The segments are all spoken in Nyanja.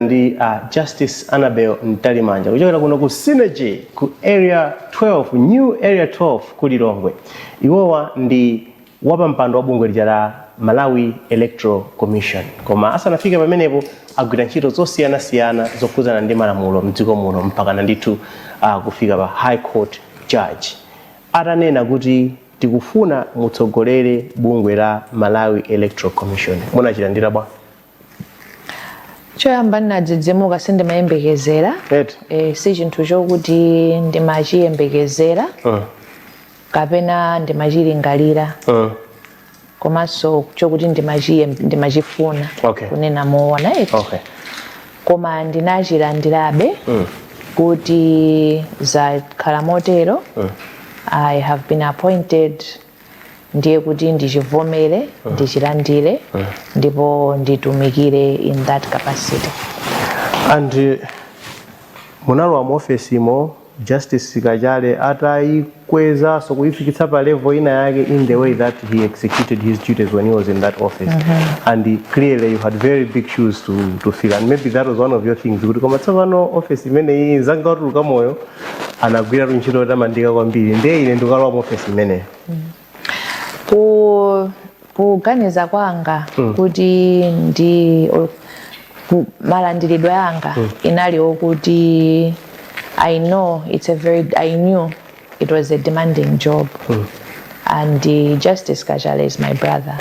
ndi a Justice Annabel Mtalimanja kuchokera kuno ku Synergy ku area 12 new area 12 ku Lilongwe. Iwowa ndi wapampando wa bungwe lija la Malawi Electoral Commission. Koma asanafike pamenepo agwira ntchito zosiyanasiyana zokhudzana ndi malamulo mdziko muno mpakana ndithu ah, kufika pa High Court Judge atanena kuti tikufuna mutsogolere bungwe la Malawi Electoral Commission. Munachilandira bwanji? choyamba ndinadzidzimuka sindimayembekezera eti e, si chinthu chokuti ndimachiyembekezera uh, kapena ndimachilingalira uh. komanso chokuti ndimachiye- ndimachifuna Okay. kunena moona eti okay koma ndinachilandirabe Mm. kuti zakhala motero i have been appointed ndiye kuti ndichivomere ndichilandire ndipo nditumikire in that capacity and eh, munalowa mu ofesimo Justice Kachale atayikwezaso kuyifikitsa pa level ina yake in the way that he executed his duties when he was in that office and he- clearly you had very big shoes to, to fill and maybe that was one of your things kuti koma tsopano office imeneyi zanga utuluka moyo anagwiratu ntchito yotamandika kwambiri ndiye ine ndikalowa mu ofesi imeneyo ku kuganiza kwanga kuti ndi or ku- malandiridwe anga inali okuti i know it's a very i knew it was a demanding job and uh, Justice Kachale is my brother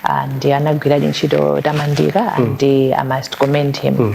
and anagwiradi ntchito yotamandika and uh, i must commend him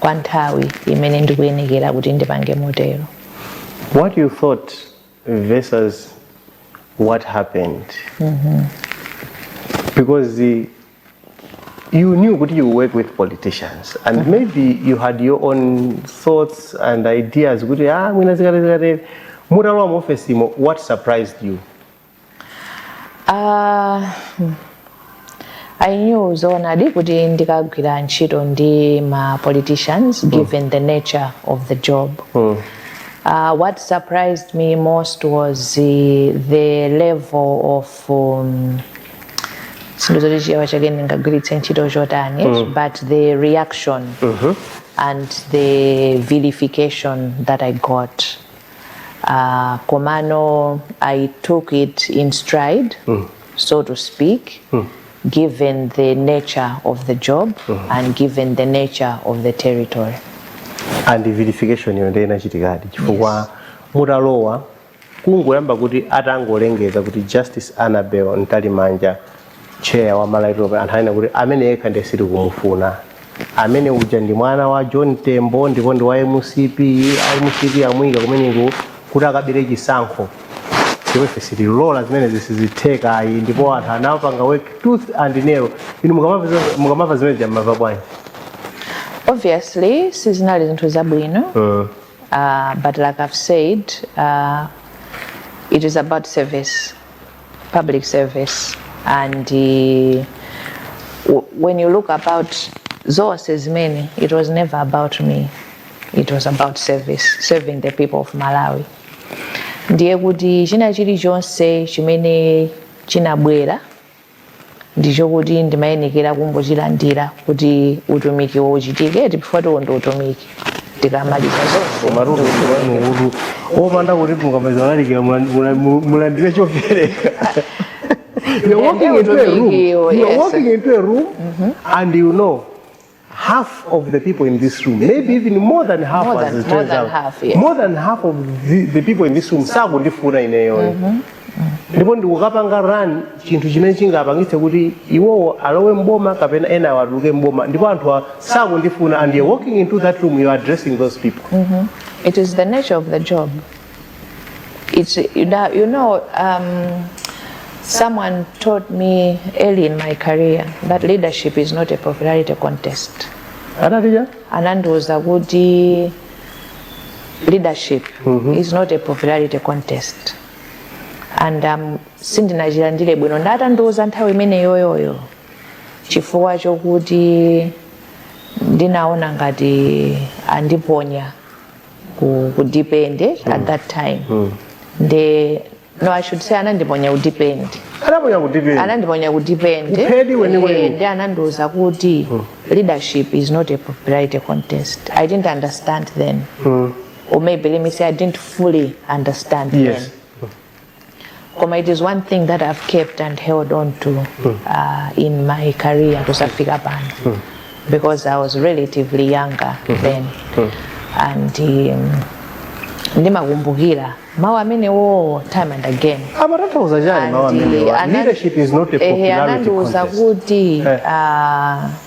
kwa nthawi imene ndikuyenekera kuti ndipange motero what you thought versus what happened mm -hmm. because the, you knew kuti you work with politicians and mm -hmm. maybe you had your own thoughts and ideas kuti ah mwina zikaterezikatere mutalowa mu office imo what surprised you Uh, hmm. I knew zoonadi kuti ndikagwira ntchito ndi ma politicians mm. given the nature of the job mm. uh, what surprised me most was the, the level of um, sindikudziwa kuti Chichewa chake ndingagwiritse ntchito chotani mm. but the reaction mm -hmm. and the vilification that i got uh, komano i took it in stride mm. so to speak mm. given the nature of the job mm. and given the nature of the territory and vilification yo ndiye inachitikadi chifukwa yes. mutalowa kungoyamba kuti atangolengeza kuti Justice Annabel Mtalimanja chair wa malawi anthu anena kuti amene yekha ndiye sitikumufuna amene uja ndi mwana wa john tembo ndipo ndi wa mcp a mcp amuyika kumeneko kuti akabere chisankho ndipo ife sitilola zimene sizitheka ayi ndipo anthu anapanga work tooth and nail inu mukamapeza- mukamamva zimenezija mumamva bwanji obviously sizinali zinthu zabwino uh, but like i've said uh, it is about service public service and uh, w- when you look at it zonse zimene it was never about me it was about service serving the people of malawi ndiye kuti china chilichonse chimene chinabwera ndicho kuti ndimayenekera kungochilandira kuti utumiki uchitike chifukwatu uwo ndi utumiki tikamaliza zonse koma rutu wanu utu opanda kuti mukapita kukalalikira mula- mula- mu- mulandire chopereka You're walking into a room. Utumikiwo, You're yes. walking into a room and you know half of the people in this room maybe even more than half More as than- it more turns than out. half, yes. more than half of the, the people in this room sakundifuna ineyoyo ndipo ndikukapanga run chinthu chimene chingapangitse kuti iwowo alowe mboma kapena enawa atuluke mboma ndipo anthu a- sakundifuna and you're walking into that room you're addressing those people It is the nature of the job. It's, you know, you know um, someone taught me early in my career that leadership is not a popularity contest. anatiya anandiuza kuti leadership is not a popularity contest and um, sindinachilandire bwino atandiuza nthawi imeneyoyoyo chifukwa chokuti ndinaona ngati andiponya ku, ku deep end eh, at that time nde no i should say anandiponya ku deep end anandiponya ku deep end anandiponya ku deep end eh, Uphedi weniweni. eh, nde anandiuza kuti leadership is not a popularity contest i didn't understand then or maybe let me say i didn't fully understand Yes. then koma it is one thing that i've kept and held on to hmm. uh, in my career kusafika pano hmm. because i was relatively younger hmm. then and um, ndimakumbukira mawu amenewowo time and again amatanthauza chani mawu amene leadership is not a popularity anandiuza kuti eh. uh,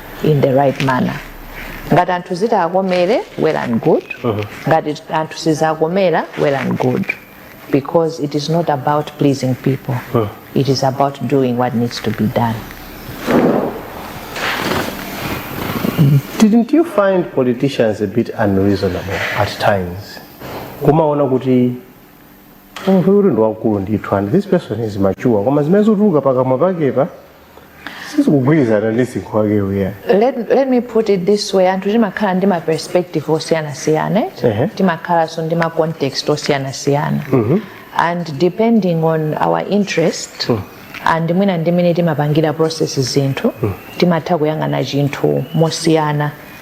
in the right manner ngati anthu zitakomere well and good ngati anthu sizinakomere well and good because it is not about pleasing people it is about doing what needs to be done Didn't you find politicians a bit unreasonable at times? Kumaona kuti munthu uyu ndi wamkulu ndithu and this person is mature koma zimene zotuluka pakamwa pakepa sizikugwirizana ndi msinkhu wake uja let, let me put it this way anthu timakhala ndi ma perspective osiyanasiyana eh? Ehe. timakhalanso ndi ma context osiyanasiyana and depending on our interest and mwina ndi mmene timapangira process zinthu timatha kuyang'ana chinthu mosiyana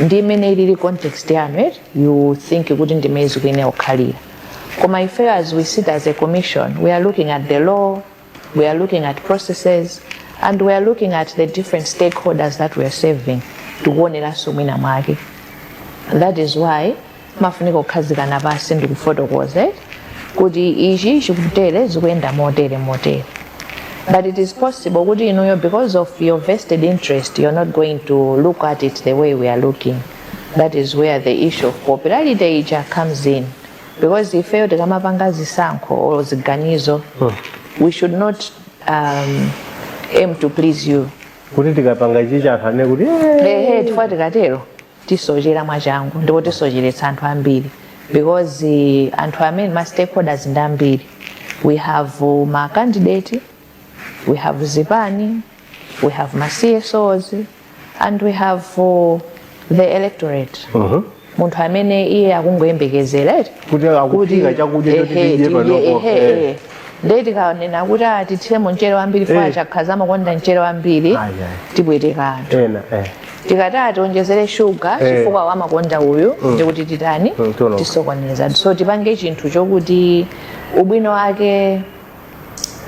ndi mmene ilili context yanu eti you think kuti ndimmene zikuyenera kukhalira koma ifeyo as we sit as a commission we are looking at the law we are looking at processes and we are looking at the different stakeholders that we are serving tikuoneranso mwina mwake that is why timafunika kukhazikana pansi ndi kufotokoza eh, kuti ichi chikutere zikuyenda motere motere but it is possible kuti inuyo because of your vested interest you're not going to look at it the way we are looking that is where the issue of popularity ija comes in because ifeyo tikamapanga zisankho or ziganizo we should not um, aim to please you kuti tikapanga ichi chakuti aone kuti "Eh, ehe chifukwa tikatero tisochera mwachangu ndipo tisocheretsa anthu ambiri because eh, anthu amene ma stakeholders ndi ambiri we have uh, ma candidate we have zipani we have ma csos and we have uh, the electorate munthu amene iye akungoyembekezera eti Kuti atiphikire chakudya choti ehe, tidye panopo, ehe, eh. ehe. ndiye tikanena kuti ah, tithiremo mchere wambiri Eh. chifukwa chakhaza amakonda mchere wambiri Ayi, ayi. tipweteka anthu ena eh. tikati ah tionjezere shuga Eh. chifukwa amakonda uyu ndikuti titani Mm, tiononga. tisokoneza so tipange chinthu chokuti ubwino wake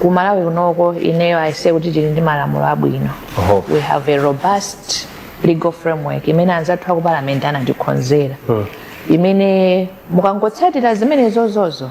ku malawi kunoko ineyo I say kuti tili ndi malamulo abwino Oho. we have a robust legal framework imene anzathu aku parliament anatikhonzera imene mukangotsatira zimenezozo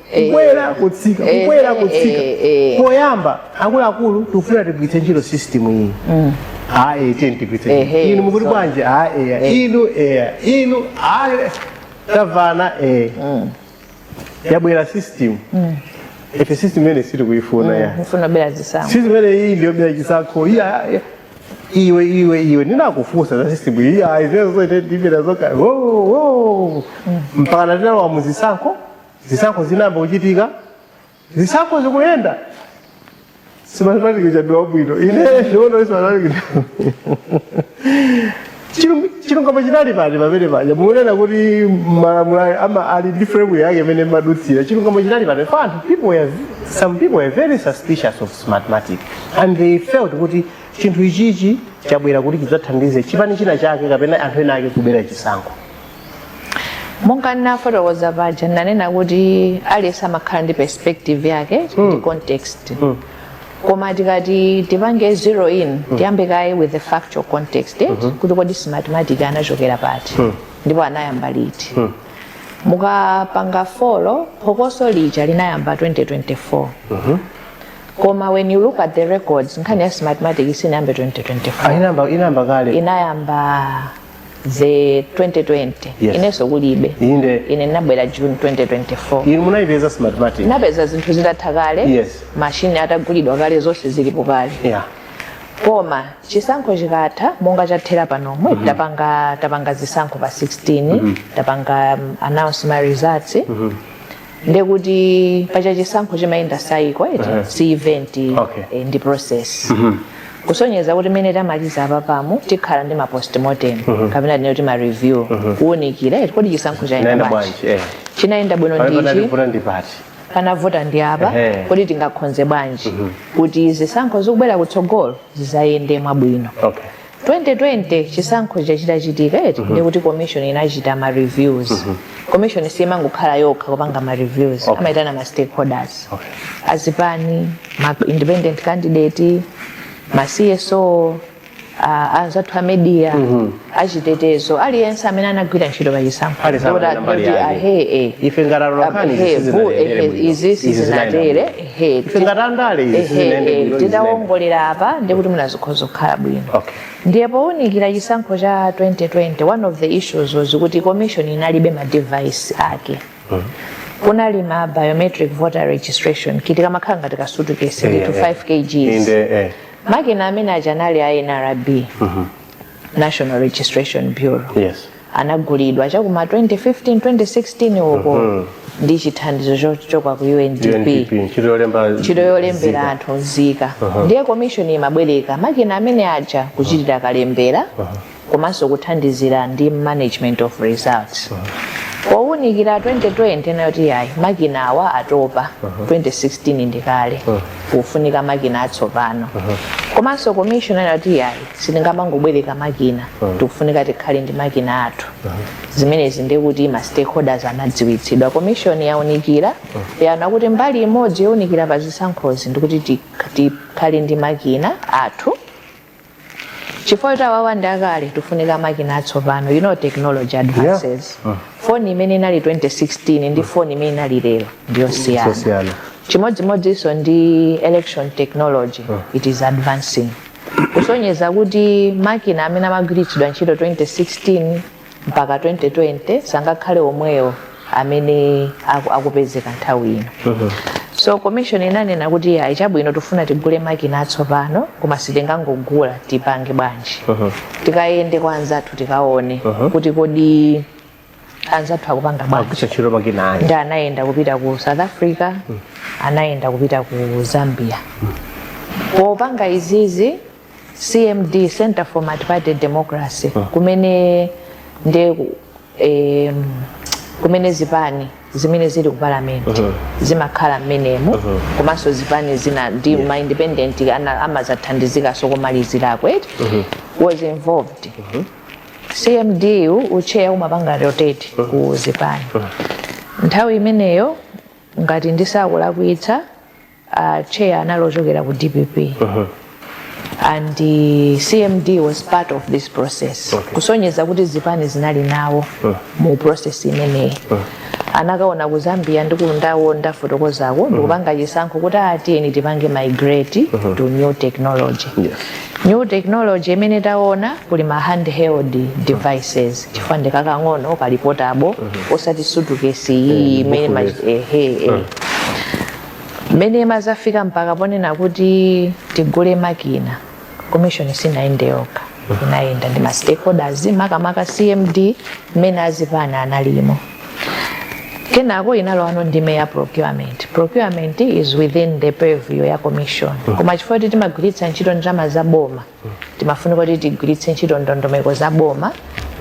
kukwera kutsika Eh, kukwera eh, kutsika eh, eh. poyamba akuluakulu tikufuna tigwiritse ntchito system iyi ayi tiyeni tigwiritse ntchito. Ehe, inu mukuti so- bwanji ayi eya Eh. inu eya inu ayi tavana eya yabwera system ife system imeneyi sitikuyifuna ya mukufuna kubera zisankho system imeneyi ndi yobera chisankho iyi ah, eh, iwe iwe iwe ndinakufunsa za system iyi ah, hizo zote ndivyo nazoka oh oh mpaka tinalowa muzisankho zisankho zinayamba kuchitika zisankho zikuyenda smartmatic ndi wabwino ine ndiono smartmatic chilungamo chinali pati pamene paja mukunena kuti malamulo ayo amakhala ndi framework yake imene amadutsira chilungamo chinali pati for anthu people were, some people were very suspicious of smartmatic and they felt kuti chinthu ichichi chabwera kuti chidzathandize chipani china chake kapena anthu ena ake kubera chisankho monga ndinafotokoza paja ndinanena kuti aliyense amakhala ndi perspective yake ndi context koma tikati tipange zero in tiyambe kaye with the factual context eh, kuti kodi smartmatic anachokera pati ndipo anayamba liti mukapanga follow phokoso lija linayamba 2024 koma when you look at the records nkhani ya smartmatic sinayambe 2024 inayamba inayamba kale inayamba after 2020 Yes. inenso kulibe inde ine ndinabwera june 2024 inu munayipeza smartmatic napeza zinthu zitatha kale Yes. mashini atagulidwa kale zonse zilipo kale yeah koma chisankho chikatha monga chathera panomu tapanga tapanga zisankho pa 16 tapanga um, announce ma results ndekuti paja chisankho chimayenda cycle eti uh-huh. si event okay. eh, ndi process mm -hmm. kusonyeza kuti mmene tamaliza apapamu tikhala ndi ma postmortem mm -hmm. kapena tinene kuti ma review mm -hmm. kuwunikira eti kodi chisankho chayenda bwanji eh. chinayenda bwino ndichi panavuta ndi apa kodi tingakhonze bwanji mm -hmm. kuti zisankho zikubwera kutsogolo zidzayende mwabwino okay. 2020 chisankho chija chitachitika eti ndiye kuti commission inachita ma reviews commission simangokhala yokha kupanga ma reviews Okay. amaitana ma stakeholders Okay. azipani ma independent candidate ma cso uh, anzathu a media achitetezo aliyense amene anagwira ntchito pa chisankho Aliyense Kuti amene mbali ati, yake. ahe, eh, Ife ngati atolankhani ahe, izi vu, ehe, sizinayende bwino. izi Izi sizinatere Ehe, ife ngati andale izi ehe, sizinayende ehe, bwino izi zinayenda. titawongolera apa ndiye kuti mwina zikhoza kukhala bwino Okay. ndiye powunikira chisankho cha 2020 one of the issues was kuti commission inalibe ma device ake kunali ma biometric voter registration kit kamakhala ngati kasutukesi Yeah, nditu yeah. 5 kgs Inde, eh. makina amene aja anali a nrb national registration bureau yes anagulidwa chakuma 2015 2016 uko ndi chithandizo chochoka ku UNDP UNDP ntchito yolemba ntchito yolembera anthu nzika ndiye komishoni imabwereka makina amene aja kuchitira kalembera komanso kuthandizira ndi management of results powunikira 2020 anati yayi makina awa atopa 2016 ndi kale kufunika makina atsopano komanso komishoni anati yayi sitingamangobwereka makina mm. tikufunika tikhale ndi makina athu mm. zimenezi ndi kuti ma stakeholders anadziwitsidwa komishoni yaunikira mm. yaona kuti mbali imodzi yofunikira pa zisankhozi ndikuti tikhale ndi makina athu chifukwa ati awawa ndi akale tifunika makina atsopano you know technology advances yeah. mm. foni imene inali 2016 ndi foni imene inali lero ndiyosiyana chimodzimodzinso ndi election technology mm. it is advancing kusonyeza kuti makina amene amagwiritsidwa ntchito 2016 mpaka 2020 sangakhale omwewo amene aku- akupezeka nthawi ino so commission inanena kuti ayi chabwino tifuna tigule makina atsopano koma sitingangogula tipange bwanji tikayende kwa anzathu tikaone kuti kodi anzathu akupanga bwanji amagwiritsa ntchito makina ndi aya anayenda kupita ku south africa anayenda kupita ku zambia popanga izizi cmd center for multiparty democracy kumene ndi eh, kumene zipani zimene zili ku parliament zimakhala mmenemo komanso zipani zina ndi ma independent ana- amazathandizikaso kumalizirako eti was involved cmd u- ucheya umapanga rotate ku zipani nthawi imeneyo ngati ndisakulakwitsa uh, cheya anali ochokera ku dpp and uh, cmd was part of this process Okay. kusonyeza kuti zipani zinali nawo mu process imeneyi anakaona ku zambia ndi kundawo ndafotokozako mm-hmm. ndikupanga chisankho kuti a tiyeni ah, tipange migrate mm-hmm. to new technology yes. new technology imene taona kuli ma handheld devices mm-hmm. chifukwa ndi kakang'ono kali portable osati sutukesi ayi imene mmene imazafika mpaka ponena kuti tigule makina commission sinayende yokha inayenda ndi ma stakeholders makamaka cmd mmene azipani analimo kenako inalowano ndime ya procurement procurement is within the purview ya commission koma chifukwa kuti timagwiritsa ntchito ndalama za boma timafunika kuti tigwiritse ntchito ndondomeko za boma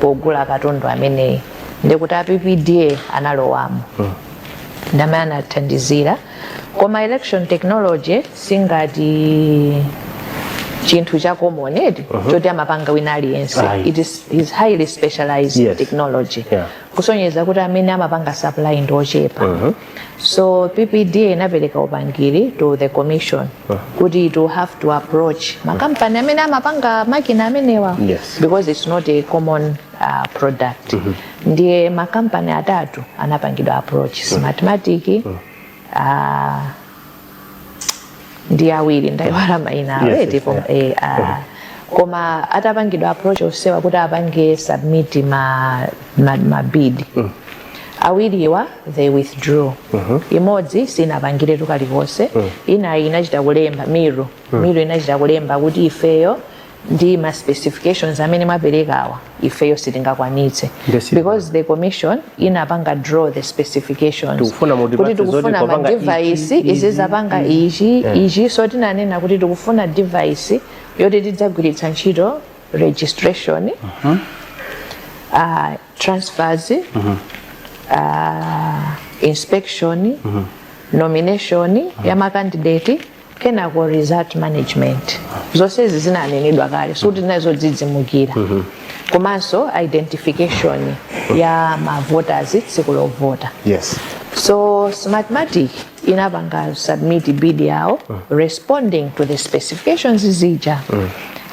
pogula katundu ameneyi ndikuti a ppda analowamo ndamene anathandizira koma election technology singati chinthu cha common eti choti amapanga wina aliyense Ayi. it is, is highly specialized Yes. technology Yeah. kusonyeza kuti amene amapanga supply ndi ochepa so ppda inapereka upangiri to the commission kuti it will have to approach makampani amene amapanga makina amenewa Yes. because it's not a common uh, product mm -hmm. ndiye makampani atatu anapangidwa approach mm. smartmatic mm -hmm. uh, ndi awiri ndaiwala maina awo yes, yes, yeah. eh, uh, mm -hmm koma atapangidwa approach onsewa kuti apange submit ma, ma, ma bid mm. awiriwa they withdrew uh mm-hmm. -huh. imodzi sinapangire chilichonse mm. ina inachita kulemba miru mm. miru inachita kulemba kuti ifeyo ndi ma specifications amene mwaperekawa ifeyo sitingakwanitse because the commission inapanga draw the specifications kuti tikufuna ma device izizapanga ichi ichi so tinanena kuti tikufuna device yoti tidzagwiritsa ntchito registration uh, transfers uh, inspection nomination ya makandidate kenako result management zonsezi zinanenedwa kale sikuti zinali zodzidzimukira komanso identification ya mavoters tsiku lovota yes so smartmatic inapanga submit bid yawo responding to the specifications zija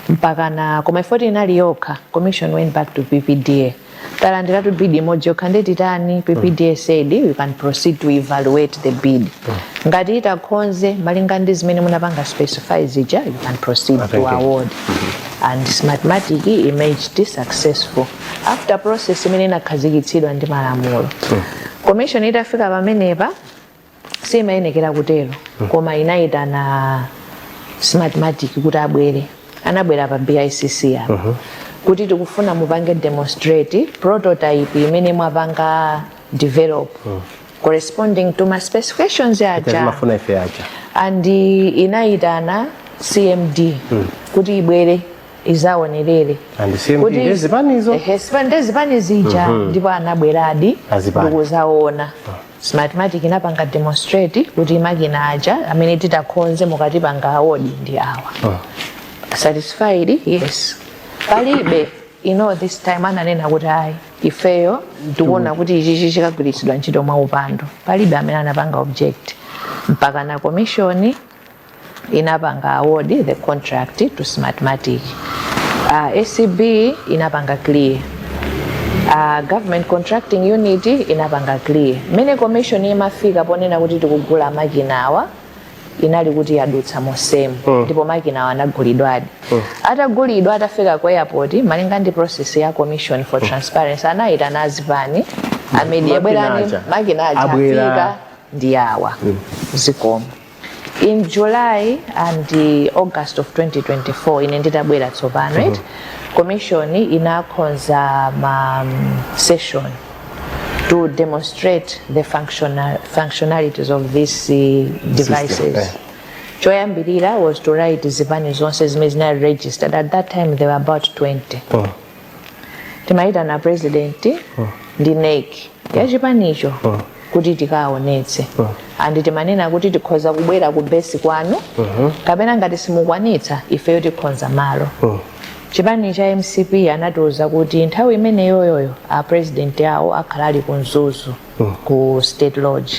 mpakana koma ifoti inali yokha commission went back to ppda talandiratu bid imodzi yokha nde titani ppda said you can proceed to evaluate the bid ngati itakhonze malinga ndi zimene munapanga specify zija you can proceed to award and smartmatic emerged successful after process imene inakhazikitsidwa ndi malamulo commission itafika pamenepa siimayenekera kutero koma inayitana smartmatic kuti abwere anabwera pa bicc apa kuti tikufuna mupange demonstrate prototype imene mwapanga develop corresponding to ma specifications aja and inayitana cmd kuti ibwere izaonerere nde zipani zija ndipo anabweradi ndikuzaona Smartmatic inapanga demonstrate kuti makina aja amene titakhonze mukatipanga award ndi awa. Satisfied? Yes. Palibe during this time ananena kuti ayi ifeyo tikuona kuti ichichi chikagwiritsidwa ntchito mwa upandu. Palibe amene anapanga object mpaka na komishoni inapanga award the contract to smartmatic uh, acb inapanga clear uh, government contracting unit inapanga clear mmene commission imafika ponena kuti tikugula makina awa inali kuti yadutsa monsemu ndipo makina awa anagulidwadi atagulidwa atafika ku airport malinga ndi process ya commission for transparency anayitana azipani amenewa bwerani makina aja afika ndi awa zikomo in july and august of 2024 ine nditabwera tsopano mm -hmm. commission inakhonza ma session to demonstrate the functional, functionalities of these uh, devices System, eh. choyambirira was to write zipani zonse zimene zina registered at that time there were about 20 oh. timayitana president ndi nec ya chipanicho kuti tikaonetse and timanena kuti tikhoza kubwera ku base kwanu kapena ngati simukwanitsa ifeyo tikhonza malo chipani cha mcp anatiuza kuti nthawi imeneyoyoyo a president awo akhala ali ku mzuzu ku state lodge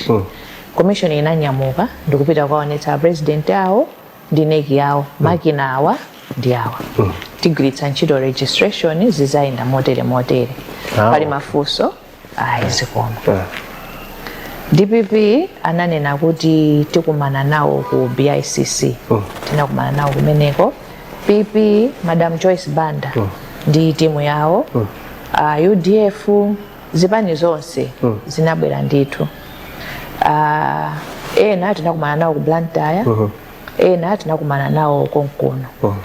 commission inanyamuka ndikupita kukaonetsa a president awo ndi nec yawo makina awa ndi awa tigwiritsa ntchito registration zizayenda motere motere Ah, pali okay. mafunso ayi zikomo Ah. dpp ananena kuti tikumana nawo ku bicc tinakumana nawo kumeneko pp madam joyce banda ndi timu yawo uh, udf zipani zonse mm. zinabwera ndithu uh, ena tinakumana nawo ku blantyre uh -huh. ena tinakumana nawo konkuno uh -huh.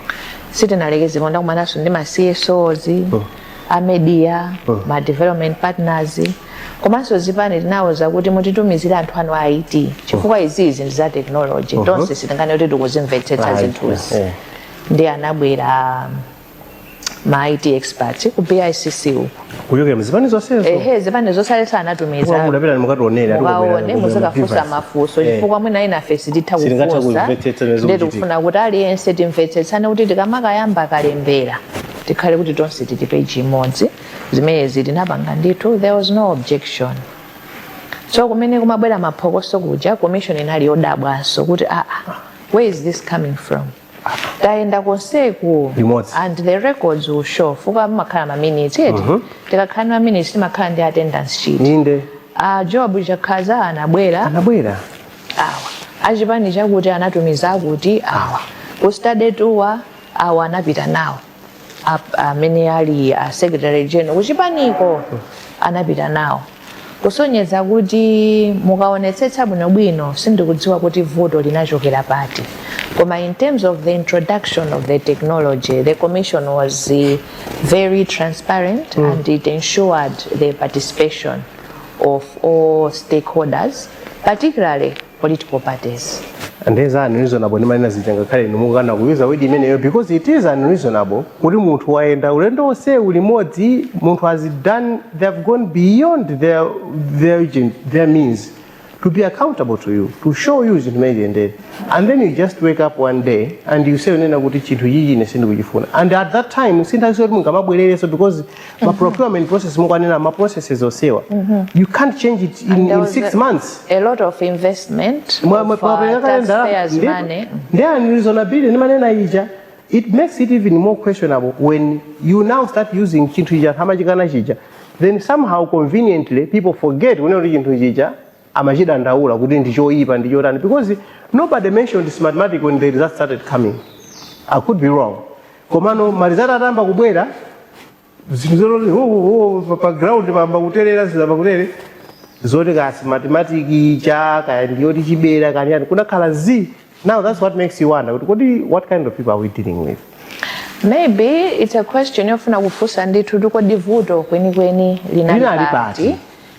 sitinalekeze pompo tinakumananso ndi ma csos uh -huh. a media uh -huh. ma development partners komanso zipani tinawuza kuti mutitumizire anthu anu a it chifukwa izizi ndi za technology uh -huh. tonse sitinganene kuti tikuzimvetsetsa zinthuzi yeah. ndi anabwera um, ma IT experts ku BICC uko kuchokera mzipani zonsezo ehe zipani zonse alesa anatumiza mudapita mukatiwonera mukaone muzikafunsa mafunso chifukwa mwina enafe sititha Sitingatha kufunsa kumvetsetsa zimene zikuchitika. nde tikufuna kuti aliyense timvetsetsane kuti tikamakayamba kalembera tikhale kuti tonse tili peji imodzi zimenezi tinapanga ndithu there was no objection so kumene kumabwera maphokoso kuja commission inali yodabwanso kuti aa where is this coming from tayenda konseku Limodzi. and the records will show fuka mumakhala ma minutes eti tikakhala ndi ma minutes timakhala ndi attendance sheet inde a job chakhadza anabwera anabwera awa achipani chakuti anatumiza akuti awa ku study tour awa anapita nawo ap- amene ali a secretary general kuchipaniko anapita nawo kusonyeza kuti mukaonetsetsa bwinobwino sindikudziwa kuti vuto linachokera pati koma in terms of the introduction of the technology the commission was eh, very transparent and it ensured the participation of all stakeholders particularly political parties. and there's unreasonable ndimanena zija ngakhale inu mukukana kuyuza word imeneyo because it is unreasonable kuti munthu wayenda ulendo wonse ulimodzi munthu has done they have gone beyond their, their, agent, their means to be accountable to you to show you zinthu mmene ziyendere and then you just wake up one day and you say unena kuti chinthu chichi ine sindikuchifuna and at that time sinthawi yoti mungamabwererenso because ma procurement process mukuwanena ma processes onsewa you can't change it in six months a lot of investment of, uh, taxpayers money ndi unreasonability ndimanena ija it makes it even more questionable when you now start using chinthu chija ankamachikana chija then somehow conveniently people forget kunena kuti chinthu chija amachidandaula kuti ndi choyipa ndi chotani because nobody mentioned smartmatic when the results started coming i could be wrong komano marizati atayamba kubwera zinthu zoti oh, oh, pa- pa ground pamba kutelera zina pakutere zoti kaya smartmatic kaya ndi yotichibera kani yani kunakhala zii now that's what makes you wonder kuti kodi what kind of people are we dealing with maybe it's a question yofuna kufunsa ndithu kuti kodi vuto kwenikweni linali pati.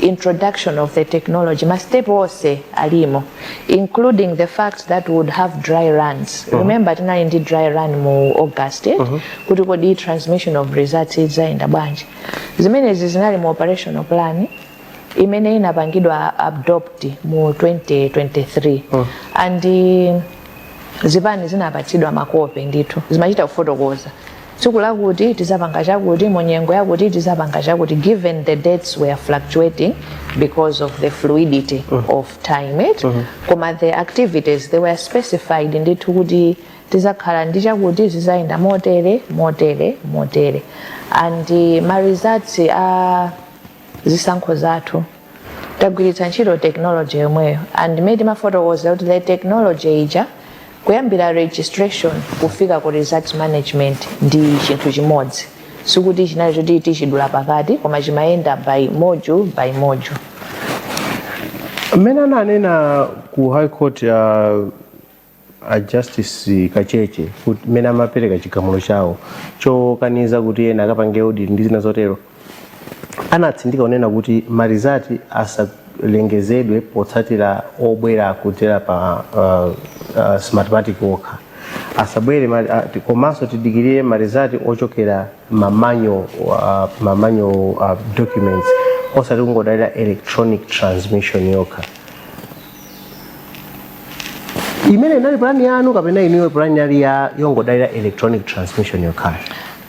introduction of the technology ma step onse alimo including the fact that we would have dry runs remember tinali ndi dry run mu august eh? kuti kodi transmission of results idzayenda bwanji zimenezi zinali mu operational plan imene inapangidwa adopt mu 2023 and eh, zipani zinapatsidwa makope ndithu zimachita kufotokoza tsiku lakuti tizapanga chakuti mu nyengo yakuti tizapanga chakuti given the dates were fluctuating because of the fluidity mm. of time mm -hmm. koma the activities they were specified ndithu kuti tizakhala ndi chakuti zizayenda motere motere motere and uh, ma results a uh, zisankho zathu tagwiritsa ntchito technology yomweyo and mmene timafotokozera kuti the technology ija kuyambira registration kufika ku results management ndi chinthu chimodzi sikuti chinali choti tichidula pakati koma chimayenda by module by module mmene ananena ku high court ya a justice kacheche kuti mmene amapereka chigamulo chawo chokaniza kuti ena akapange audit ndi zina zotero anatsindika kunena kuti marizati asalengezedwe potsatira obwera kudzera pa uh, uh, smartmatic yokha asabwere ma- a- ti- komanso tidikirire marizati ochokera ma manual uh ma manual uh, documents osati kungodalira electronic transmission yokha imene inali plan yanu kapena inuyo plan inali yongodalira electronic transmission yokha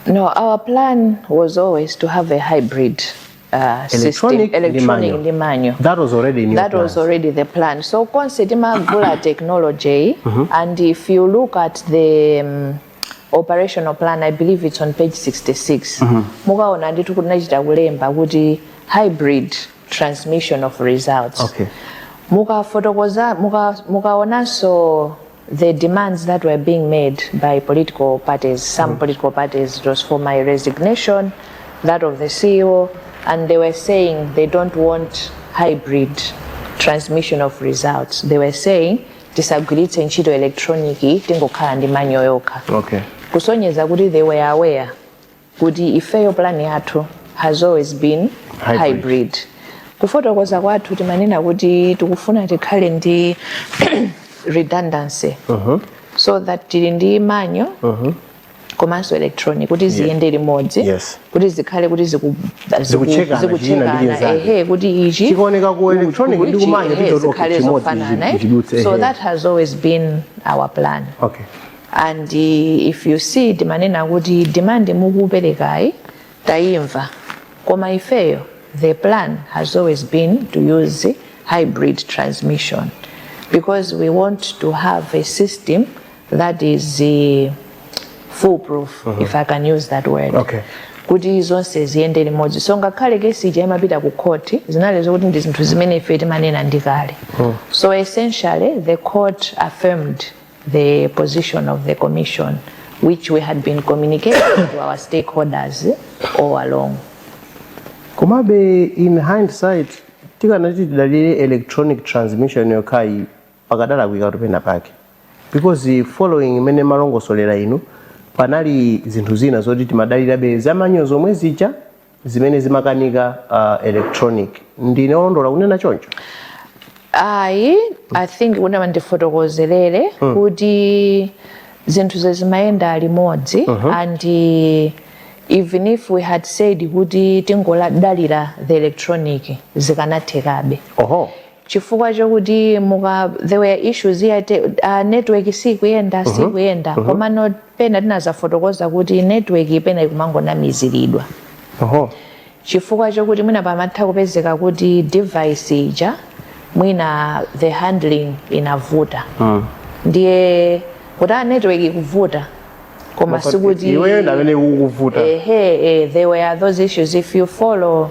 No, our plan was always to have a hybrid uh, system, electronic ndi manual. that was already in your That was already the plan. So konse timagula technology and if you look at the um, operational plan, I believe it's on page 66. Mukaona ndithu kuti tinachita kulemba kuti hybrid transmission of results okay. mukafotokoza mukaonanso muka the demands that were being made by political parties some mm. political parties it was for my resignation that of the ceo and they were saying they don't want hybrid transmission of results they were saying tisagwiritse ntchito electronic tingokhala ndi manyo yokha okay. kusonyeza kuti they were aware kuti ifeyo plan yathu has always been hybrid kufotokoza kwathu timanena kuti tikufuna tikhale ndi redundancy so that tili ndi manual komanso electronic kuti ziyende limodzi kuti zikhale kuti zikuchekana kuti ichi chikaoneka ku electronic ndi ku manual zikhale zofanana, so that has always been our plan okay and if you see timanena kuti demand mukuperekayi tayimva koma ifeyo the plan has always been to use hybrid transmission because we want to have a system that is uh, foolproof mm -hmm. if i can use that word okay. kuti zonse ziyende limodzi so ngakhale case ija imapita ku court zinali zokuti ndi zinthu zimene ife timanena ndi kale mm. so essentially the court affirmed the position of the Commission, which we had been communicating to our stakeholders all along. komabe in hindsight tikanati tidalire electronic transmission yokhayi pakadalakwikatu pena pake because eh, following mmene mwalongosolera inu panali zinthu zina zoti timadalirabe za manual zomwe zija zimene zimakanika uh, electronic ndine olondola kunena choncho ayi i think kuti mwina ndifotokozere hmm. kuti zinthu zimayenda limodzi uh -huh. and even if we had said kuti tingodalira the electronic zikanathekabe oho chifukwa chokuti there were issues ya uh, network sikuyenda sikuyenda komano pena tinazafotokoza kuti network pena ikumangonamiziridwa chifukwa chokuti mwina pamatha kupezeka kuti device ija mwina the handling inavuta Mm. ndiye kuti a network ikuvuta koma sikuti iweyo ndi amene ukuvuta ehe eh, there were those issues if you follow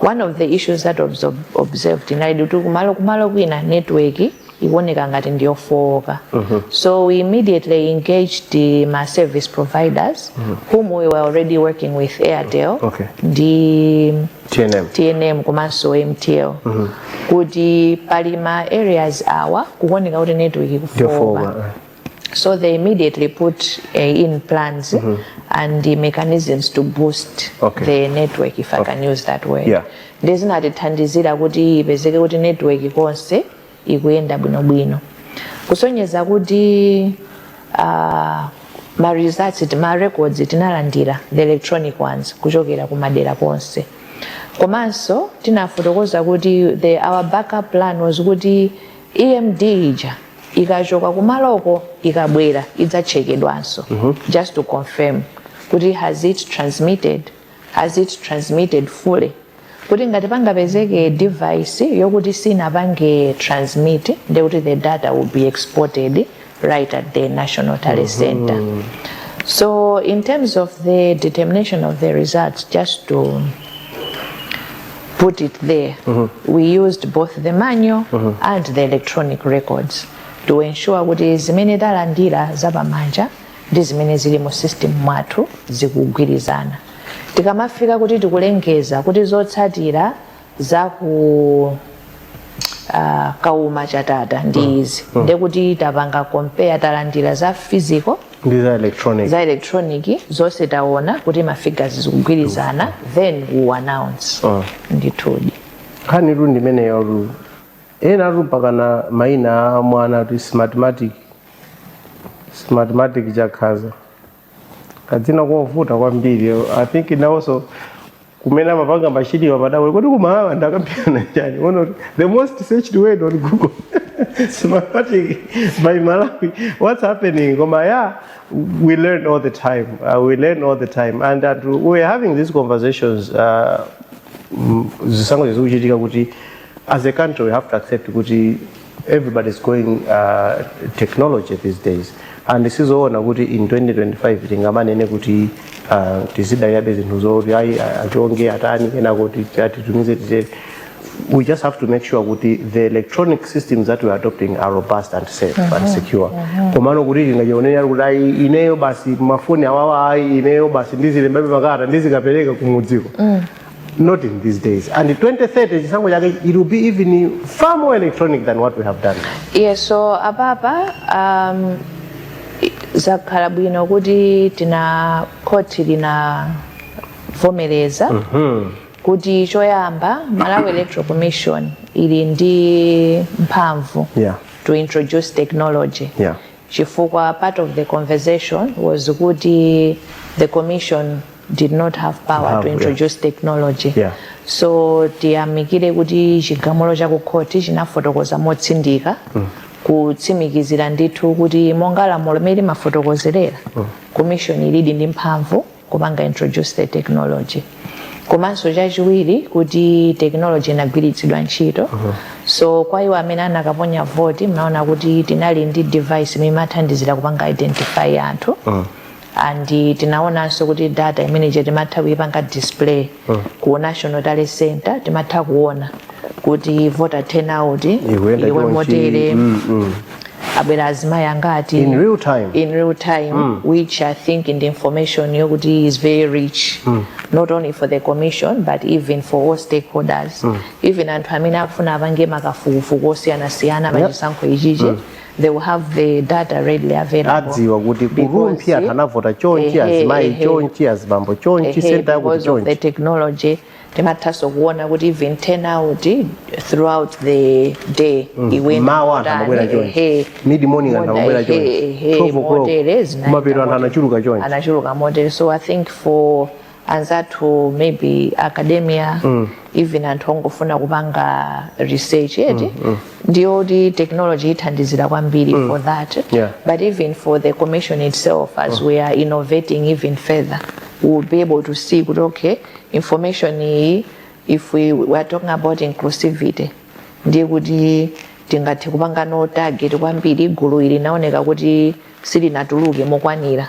one of the issues that was observed inalidi kuti kumalo kumalo kwina network ikuoneka ngati ndiyofowoka so we immediately engaged ma service providers whom we were already working with airtel ndi tnm komanso mtl kuti pali ma areas awa kukuoneka kuti network ikufowoka eh. So they immediately put uh, in plans mm -hmm. and the mechanisms to boost okay. the network, if I okay. can use that word. Yeah. Ndiye zinatithandizira kuti ipezeke kuti network konse ikuyenda bwinobwino. Kusonyeza kuti uh, ma results ma records tinalandira the electronic ones kuchokera kumadera konse. Komanso tinafotokoza kuti the our backup plan was kuti EMD ija ikachoka kumaloko ikabwera idzatchekedwanso mm -hmm. just to confirm kuti has it transmitted has it transmitted fully kuti ngati pangapezeke device yokuti sinapange transmit ndekuti the data will be exported right at the national tally mm -hmm. center so in terms of the determination of the results just to put it there. Mm -hmm. We used both the manual mm -hmm. and the electronic records to ensure kuti zimene talandira zapamanja ndi zimene zili mu system mwathu zikugwirizana tikamafika kuti tikulengeza kuti zotsatira za ku uh, kauma chatata ndi mm. izi mm. ndekuti tapanga compare talandira za physical ndi za electronic za electronic zonse taona kuti mafigures zikugwirizana then we announce Ah. ndithudi nkhanitu ndi imeneyotu enatu mpaka ana mayina a mwanatu smartmatic smartmatic chakaza kadzina kovuta kwambiri i think nawonso kumene amapanga machiniwa madawe kodi kumalawa ndakambirana chani one of the most searched word on google smartmatic by malawi what's happening koma yeah we learn all the time uh, we learn all the time and that we're having these conversations uh, mm, zisankho zikuchitika kuti as a country we have to accept kuti everybody's going uh, technology these days and sizoona kuti in 2025 tingamanene kuti uh, tizidalirabe zinthu zoti ayi a- achonge atani kena kuti atitumize titere we just have to make sure kuti the electronic systems that we are adopting are robust and safe and secure komano kuti tingachionera kuti ayi ineyo basi mafoni awawa ayi ineyo basi ndizilembabe makalata ndizikapereka kumudzi ko not in these days and 2030 chisankho chake it will be even far more electronic than what we have done yeah so apapa um, zakhala bwino kuti tina khoti linavomereza mm -hmm. kuti choyamba malawi electoral commission ili ndi mphamvu yeah. to introduce technology yeah. chifukwa part of the conversation was kuti the commission did not have power Have, to yeah. introduce technology Yeah. so tiyamikire kuti chigamulo cha kukhoti chinafotokoza motsindika kutsimikizira ndithu kuti monga lamulo mmene limafotokozera commission ilidi ndi mphamvu kupanga introduce the technology komanso chachiwiri kuti technology inagwiritsidwa ntchito so kwa iwo amene anakaponya voti mnaona kuti tinali ndi device imene imathandizira kupanga identify anthu and tinaonanso kuti data imene ija timatha kuipanga display mm. ku national tally center timatha kuona kuti voter turnout ili motere mm, mm. abwera azimayi angati in real time, in real time mm. which i think ndi information yokuti is very rich mm. not only for the commission but even for all stakeholders mm. even anthu amene akufuna apange makafukufuku osiyanasiyana pachisankho ichichi mm. they will have the data readily available adziwa kuti ku rumphi anthu anavota chonchi azimayi chonchi azibambo chonchi senta yakuti chonchi the technology timathanso kuona kuti even turnout throughout the day mm. m'mawa anthu amabwera chonchi mid morning anthu amabwera chonchi 12 o'clock kumapita anthu anachuluka chonchi anachuluka motere so i think for anzathu maybe academia mm. even anthu ongofuna kupanga research eti mm, mm. ndiye kuti technology ithandizira kwambiri mm. for that yeah. but even for the commission itself as mm. we are innovating even further we will be able to see kuti okay information iyi if we, we are talking about inclusivity ndiye kuti tingathe kupanganso target kwambiri gulu ili linaoneka kuti silinatuluke mokwanira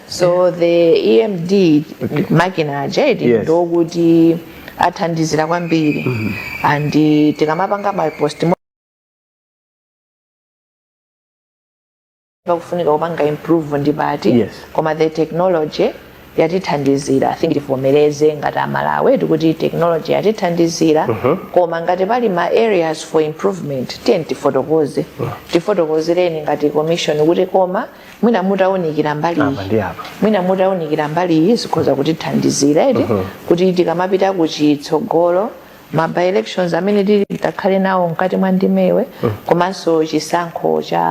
so the emd makina aja eti Yes. ndikuti athandizira kwambiri and eh, tikamapanga ma post mo- pakufunika kupanga improve ndi pati Yes. koma the technology yatithandizira i think tivomereze ngati amalawi eti kuti technology yatithandizira koma ngati pali ma areas for improvement tiyeni tifotokoze tifotokozereni ngati commission kuti koma mwina mutaunikira mbali Apa iyi. ndi apa. mwina mutaunikira mbali iyi zikhoza kutithandizira eti kuti tikamapita ku chitsogolo ma by elections amene titi tikhale nawo mkati mwa ndimewe komanso chisankho cha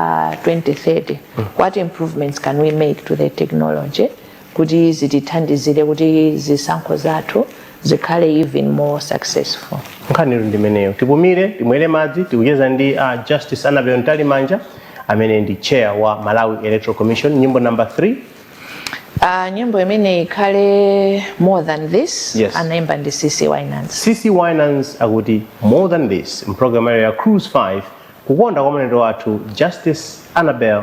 2030 what improvements can we make to the technology kuti zitithandizire kuti zisankho zathu zikhale even more successful. nkhanitu ndimeneyo tipumire timwere madzi tikucheza ndi a justice anabel mtalimanja amene ndi chair wa malawi electoral commission nyimbo number 3 Uh, nyimbo imene ikhale more than this Yes. anaimba ndi cece winans cece winans akuti more than this mpulogalamu yanu ya cruise 5 kukonda kwa mlendo wathu justice anabel